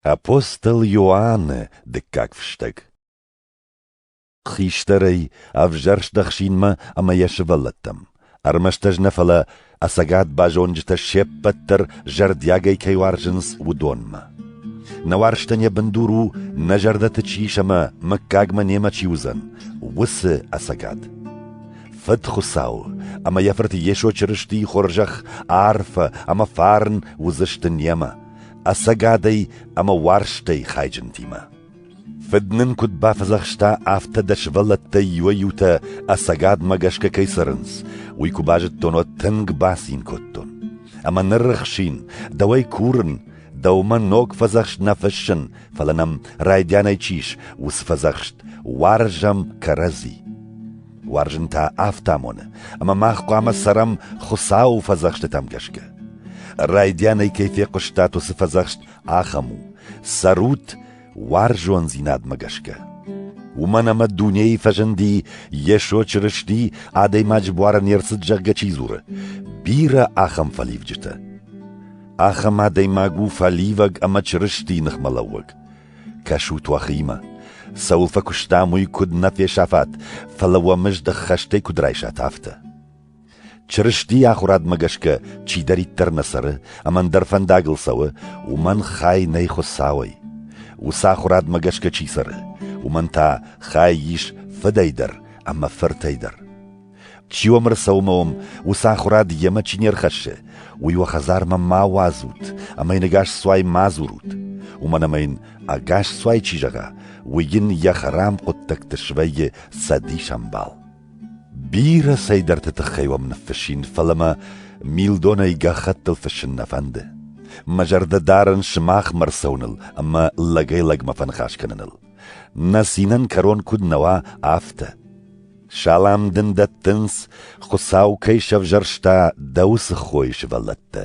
Апостол Иоанны дыккаг фыстӕг Хистӕрӕй ӕвзӕрст ӕхсинмӕ ӕмӕ йӕ сывӕллӕттӕм, ӕрмӕст ӕз нӕ, фӕлӕ ӕцӕгад базонджытӕ се ппӕт дӕр зӕрдиагӕй кӕй уарзынц, уыдонмӕ. Нӕ уарзтӕн йӕ бындур у, нӕ зӕрдӕты чи ис ӕмӕ мыггагмӕ немӕ чи уыдзӕн, уыцы ӕцӕгад. Фыд Хуыцау ӕмӕ йӕ Фырт Йесо Чырыстийы хорзӕх арфӕ ӕмӕ фарн уыдзысты немӕ, ӕцӕгадӕй ӕмӕ уарзтӕй хайджынтимӕ. Фыд нын куыд бафӕдзӕхста, афтӕ дӕ сывӕллӕттӕй иуӕй-иутӕ ӕцӕгадмӕ гӕсгӕ кӕй цӕрынц, уый куы базыдтон, уӕд тынг бацин кодтон. Ӕмӕ ныррыхсин, дӕуӕй курын, дӕумӕ ног фӕдзӕхст нӕ фыссын, фӕлӕ нӕм райдианӕй чи ис, уыцы фӕдзӕхст уарзӕм кӕрӕдзи. Уарзын та афтӕ амоны, ӕмӕ мах хъуамӕ цӕрӕм Хуыцауы фӕдзӕхстытӕм гӕсгӕ. Райдианӕй кӕй фехъуыстат уыцы фӕдзӕхст, ахӕм у: цӕрут уарзондзинадмӕ гӕсгӕ. Уымӕн ӕмӕ дунейы фӕзынди Йесо Чырысти, адӕймаджы буары не рцыд, зӕгъгӕ чи дзуры, бирӕ ахӕм фӕливджытӕ. Ахӕм адӕймаг у фӕливӕг ӕмӕ Чырыстийы ныхмӕлӕууӕг. Кӕсут уӕхимӕ. Цӕуыл фӕкуыстам, уый куыд нӕ фесӕфат, фӕлӕ уӕ мызд ӕххӕстӕй куыд райсат, афтӕ. Чырыстийы ахуырадмӕ гӕсгӕ чидӕриддӕр нӕ цӕры ӕмӕ ӕндӕр фӕндагыл цӕуы, уымӕн хай нӕй Хуыцауӕй. Уыцы ахуырадмӕ гӕсгӕ чи цӕры, уымӕн та хай ис Фыдӕй дӕр ӕмӕ Фыртӕй дӕр. Чи уӕм ӕрцӕума уӕм, уыцы ахуырад йемӕ чи не рхӕссы, уый уӕ хӕдзармӕ ма уадзут ӕмӕ йын ӕгас цуай ма дзурут. Уымӕн ӕмӕ йын ӕгас цуай чи зӕгъа, уый йын йӕ хӕрам хъуыддӕгты свӕййы цӕдис ӕмбал. Бирӕ цӕйдӕрты тыххӕй уӕм ныффыссин, фӕлӕ мӕ милдонӕй гӕххӕттыл фыссын нӕ фӕнды. Мӕ зӕрдӕ дарын сымахмӕ ӕрцӕуыныл ӕмӕ лӕгӕй-лӕгмӕ фӕныхас кӕныныл. Нӕ цинӕн кӕрон куыд нӕ уа, афтӕ. Салам дын дӕттынц, Хуыцау кӕй сӕвзӕрста дӕ уыцы хойы сывӕллӕттӕ.